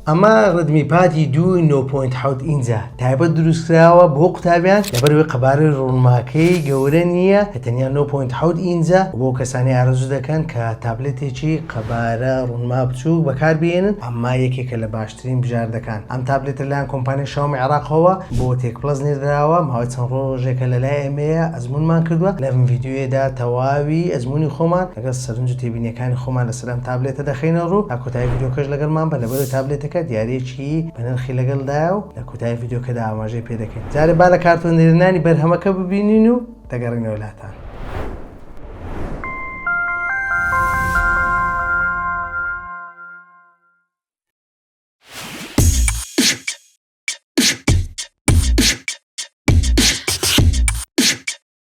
ئەمە ڕدمی پاتی دووی نۆ پۆینت حەوت ئینجە تایبەت دروستکراوە بۆ قوتابیان لەبەروی قەبارەی ڕونماکەی گەورە نییە کە تەنیا نۆ پۆینت حەوت ئینجە بۆ کەسانی ئارەزوو دەکەن کە تابلێتێکی قەبارە ڕونما بچووک بەکاربیێنن ئەمە یەکێکە لە باشترین بژاردەکان ئەم تابلێتە لەلایەن کۆمپانیای شاومی عێراقەوە بۆ تێک پڵەس نێردراوە ماوەی چەند ڕۆژێکە لەلای ئێمەیە ئەزمونمان کردووە لەم ڤیدیۆیەدا تەواوی ئەزمونی خۆمان لەگەڵ سەرنج و تێبینیەکانی خۆمان لەسەر ئەم تابلێتە دەخەینە ڕوو، تا کۆتایی ڤیدیۆکەش لەگەڵمان بە، لەبەرئەوەی تابلێتەکە دیاریەکی بەنرخی لەگەڵدایە و لە کۆتایی ڤیدیۆکەدا ئاماژەی پێ دەکەین، جارێ با لە کارتۆنێرنانی بەرهەمەکە ببینین و دەگەڕێینەوە لاتان.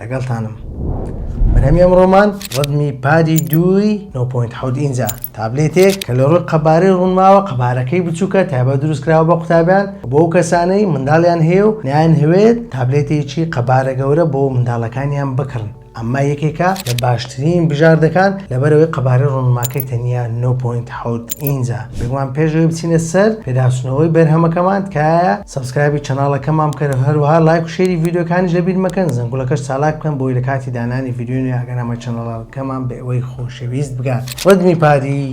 لەگەڵتانم بەرهەمی ئەمڕۆمان ڕەدمی پادی دووی 9.7 ئینجا تابلێتێک کە لە ڕووی قەبارەی ڕوونماوە قەبارەکەی بچووکە تایبە دروستکراوە بە قوتابیان بۆ ئەو کەسانەی منداڵیان هەیە و نیان هەوێت تابلێتێکی قەبارە گەورە بۆ منداڵەکانیان بکڕن ئەمە یەکێکە لە باشترین بژاردەکان لەبەرەوەی قەبارەی ڕوونماکەی تەنیا 9.7 ئینجا. بێگومان پێش ئەوەی بچینە سەر پێداچوونەوەی بەرهەمەکەمان تکایە سەبسکرایبی چەناڵەکەمان بکەن و هەروەها لایک و شێری ڤیدیۆکانیش لەبیر مەکەن زەنگوڵەکەش چالاک بکەن بۆی لە کاتی دانانی ڤیدیۆی نوێ ئاگادارمەی چەناڵەکەمان بە ئێوەی خۆشەویست بگات ڕدمی پادی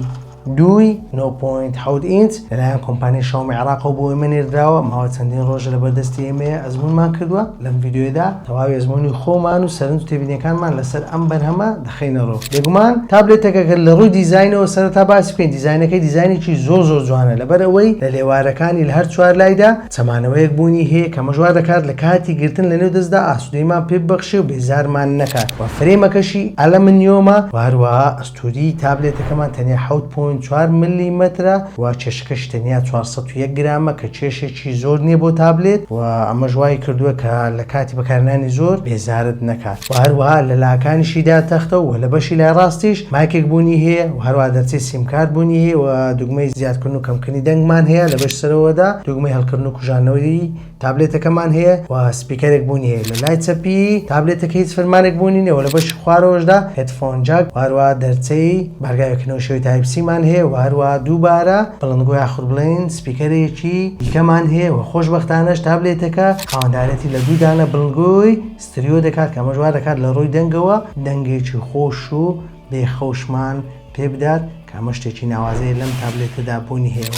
دووی 9.7 ئینچ لەلایەن کۆمپانی شاومی عراقەوە بۆ ئێمە نێردراوە ماوە چەندین ڕۆژە لە بەردەستی ئێمەیە ئەزمونمان کردووە لەم ڤیددیوێدا تەواوی ئەزمموی خۆمان و سەرنج تێبینەکانمان لەسەر ئەم بەرهەمە بخەینەڕوو بێگومان تابلێتەکە گەر لە ڕووی دیزاینەوە سەرەتا باسی بکەین دیزاینەکەی دیزاینێکی زۆر زۆر جوانە لەبەر ئەوەی لە لێوارەکانی لە هەر چوار لایدا چەمانەوەیەک بوونی هەیە کە مەشوا دەکات لە کاتی گرتن لە نێو دەستدا ئاسودەیمان پێ ببەخشێ و بێزارمان نەکات وە فرەیمەکەشی ئەلەمنیۆمە وە هەروەها ئەستووری تابلێتەکەمان تەنیا حەوت پۆینت چوار مللیمەترە و کێشەکەشی تەنیا چوار سەد و یەک گرامە کە کێشێکی زۆر نییە بۆ تابلێت وە ئەمەش وای کردووە کە لە کاتی بەکارهێنانی زۆر بێزارت نەکات. و هەروەها لە لاکانیشیدا تەختە و لە بەشی لای ڕاستیش مایکێک بوونی هەیە و هەروەها دەرچەی سیمکارت بوونی هەیە و دوگمەی زیادکردن و کەمکردنی دەنگمان هەیە لە بەش سەرەوەدا دوگمەی هەڵکردن و کوژاندنەوەی تابلێتەکەمان هەیە و سپیکەرێک بوونی هەیە لە لای چەپی تابلێتەکە هیچ فرمانێک بوونی نیە و لە بەشی خوارەوەشدا هێدفۆن جاک و هەروەها دەرچەی بارگای وێکردنەوەی شێوەی تایپ سی مان هەیە و هەروەها دووبارە بڵندگۆ یاخود بڵێین سپیکەرێکی دیکەمان هەیە و خۆشبەختانەش تابلێتەکە خاوەندارێتی لە دوو دانە بڵندگۆی ستریۆ دەکات کە ئەمەش وا دەکات لە ڕووی دەنگەوە دەنگێکی خۆش و بێ خەوشمان پێ بدات کە ئەمە شتێکی ناوازەیە لەم تابلێتەدا بوونی هەیە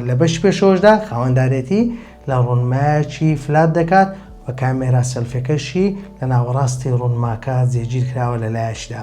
لە بەشی پێشەوەشدا خاوەندارێتی لە ڕوونمایەکی فلات دەکات و کامێرا سەلفەکەشی لە ناوەڕاستی ڕوونماکە جێگیر کراوە لە لایەکیدا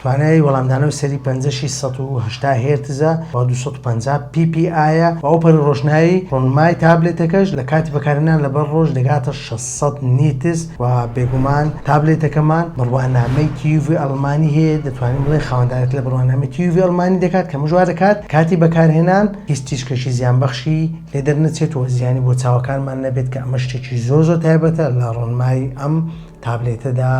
توانای وەڵامدانەوەی سەری پەنجەشی سەد و هەشتا هێرتزە و دوو سەد و پەنجا پی پی ئایە و ئەو پەڕی ڕۆشنایی ڕۆنمای تابلێتەکەش لە کاتی بەکارهێنان لەبەر ڕۆژ دەگاتە شەش سەد نیتز و بێگومان تابلێتەکەمان بڕوانامەی تیوڤی ئەڵمانی هەیە دەتوانین بڵێین خاوەندارێتی لە بڕوانامەی تیوڤی ئەڵمانی دەکات کە مژ وادەکات کاتی بەکارهێنان هیچ تیشکێکی زیانبەخشی لێ دەرنەچێت و زیانی بۆ چاوەکانمان نەبێت کە ئەمە شتێکی زۆر زۆر تایبەتە لە ڕۆنمای ئەم تابلێتەدا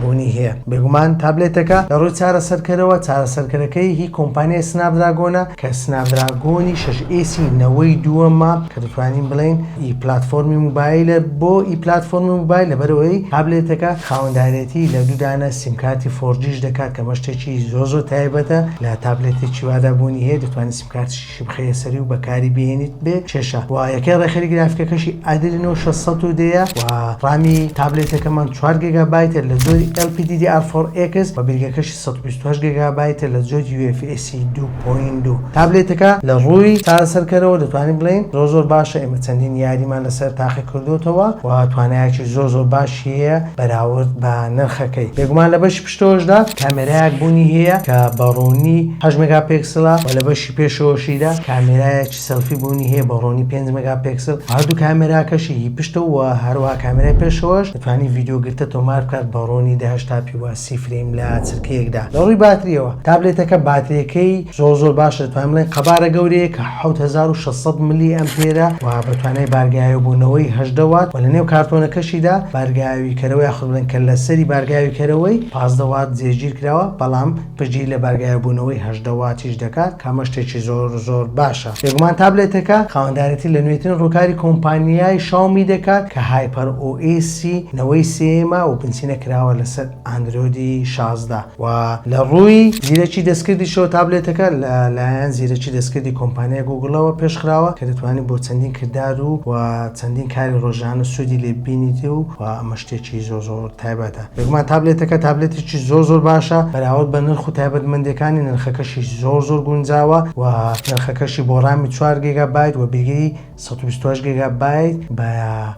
بوونی هەیە. بێگومان تابلێتەکە لە ڕووی چارەسەرکەرەوە، چارەسەرکەرەکەی هی کۆمپانیای سناپدراگۆنە کە سناپدراگۆنی شەش ئێسی نەوەی دووەمە کە دەتوانین بڵێین ئی پلاتفۆرمی موبایلە بۆ ئی پلاتفۆرمی موبایل لەبەرئەوەی تابلێتەکە خاوەندارێتی لە دوو دانە سیمکارتی فۆرجیش دەکات کە ئەمە شتێکی زۆر زۆر تایبەتە لە تابلێتێکی وادا بوونی هەیە دەتوانین سیمکارتیشی شبخەیە سەری و بەکاری بهێنیت بێ کێشە و یەکەی ڕێکخەری گرافیکەکەشی ئەدرینۆ شەش سەد و دە ە و ڕامی تابلێتەکەمان چوار گێگابایتە لە جۆری ئێڵ پی دی دی ئار فۆر ئێکس و بیرگەکەشی سەد و بیست و هەشت گێگابایتە لە جۆری یو ئێف ئێس ی دوو پۆینت دوو. تابلێتەکە لە ڕووی چارەسەرکەرەوە دەتوانین بڵێین زۆر زۆر باشە، ئێمە چەندین یاریمان لەسەر تاقی کردۆتەوە و توانایەکی زۆر زۆر باشی هەیە بەراورد بە نرخەکەی بێگومان لە بەشی شتۆشدا کامێرایەک بوونی هەیە کە بە ڕوونی هەشت مێگا پێکسلە و لە بەشی پێشەوەشیدا کامێرایەکی سێلفی بوونی هەیە بە ڕوونی پێنج مێگا پێکسل و هەردوو کامێراکەشی هی پشتە و هەروەها کامێرای پێشەوەش دەتوانێت ڤیدیۆ گرتە تۆمار بکات بە ڕوونی دە هەشتا پی و سی فرەیم لە چرکەیەکدا لە ڕووی باتریەوە تابلێتەکە باتریەکەی زۆر زۆر باشە دەتوانین بڵێین قەبارە گەورەیەکە. حەوت هەزار و شەش سەد ملی ئەمپێرە و بە توانای بارگەیاویبوونەوەی هەژدە وات و لە نێو کارتۆنەکەشیدا بارگەیاویکەرەوە یاخود بڵێن کەللەسەری بارگەیاویکەرەوەی پازدە وات جێگیر کراوە بەڵام پشتگیری لە بارگەیاویبوونەوەی هەژدە واتیش دەکات کە ئەمە شتێکی زۆر زۆر باشە بێگومان تابلێتەکە خاوەندارێتی لە نوێترین ڕووکاری کۆمپانیای شاومی دەکات کە هایپەر ئۆ ئێسی نەوەی سێیەمە و بنچینە کراوە لەسەر ئاندرۆیدی شازدە. و لە ڕووی زیرەکی دەستکردیشەوە تابلێتەکە لە لایەن زیرەکی دەستکردی کۆمپانیای گووگڵەوە پێش خراوە کە دەتوانیت بۆ چەندین کردار و و چەندین کاری ڕۆژانە سوودی لێ ببینیت و و ئەمە شتێکی زۆر زۆر تایبەتە بێگومان تابلێتەکە تابلێتێکی زۆر زۆر باشە بەراورد بە نرخ و تایبەتمەندیەکانی نرخەکەشی زۆر زۆر گونجاوە و نرخەکەشی بۆ ڕامی چوار گێگا بایت و بیری سەد و بیست و هەشت گێگا بایت بە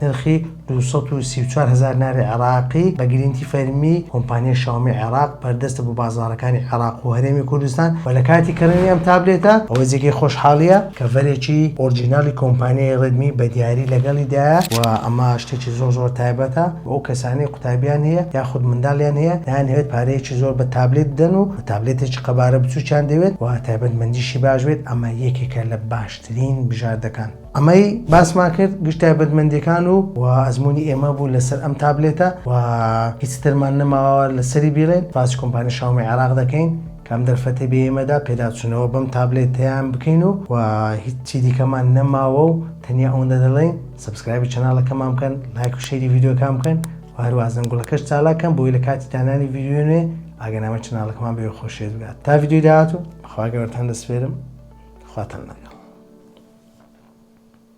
نرخی دوو سەد و سی و چوار هەزار ناری عێراقی بە گرینتی فەرمی کۆمپانیای شاومی عێراق بەردەستە بۆ بازاڕەکانی عێراق و هەرێمی کوردستان و لە کاتی کڕینی ئەم تابلێتە ئەوە جێگەی خۆشحاڵییە کەڤەرێکی ئۆرجیناڵی کۆمپانیای ڕێدمی بە دیاری لەگەڵیدایە و ئەمە شتێکی زۆر زۆر تایبەتە بۆ ئەو کەسانەی قوتابیان هەیە یاخود منداڵیان هەیە نایانەوێت پارەیەکی زۆر بە تابلێت بدەن و تابلێتێکی قەبارە بچووکیان دەوێت و تایبەتمەندیشی باش بێت ئەمە یەکێکە لە باش ترین بژاردەکان ئەمەی باسمان کرد گشت تایبەتمەندیەکان و و ئەزمونی ئێمە بوو لەسەر ئەم تابلێتە و هیچ ترمان نەماوە لەسەری بیڵێن باسی کۆمپانی شاومی عێراق دەکەین کام دەرفەتی بە ئێمەدا پێداچوونەوە بەم تابلێتیان بکەین و و هیچی دیکەمان نەماوە و تەنیا ئەوەندە دەڵێن سبسکرایبی چەناڵەکەمان بکەن لایک و شەری ڤیددیوکان بکەن و هەروازن گوڵەکەش چالاکەم بۆی لە کاتی دانانی ڤیددیوێ ئاگەنامە چناڵەکەمان بێ خۆشێت بگات تا ڤیددیو داات و خوا گەورەتان دەسپێرم خواتان لەگەڵ.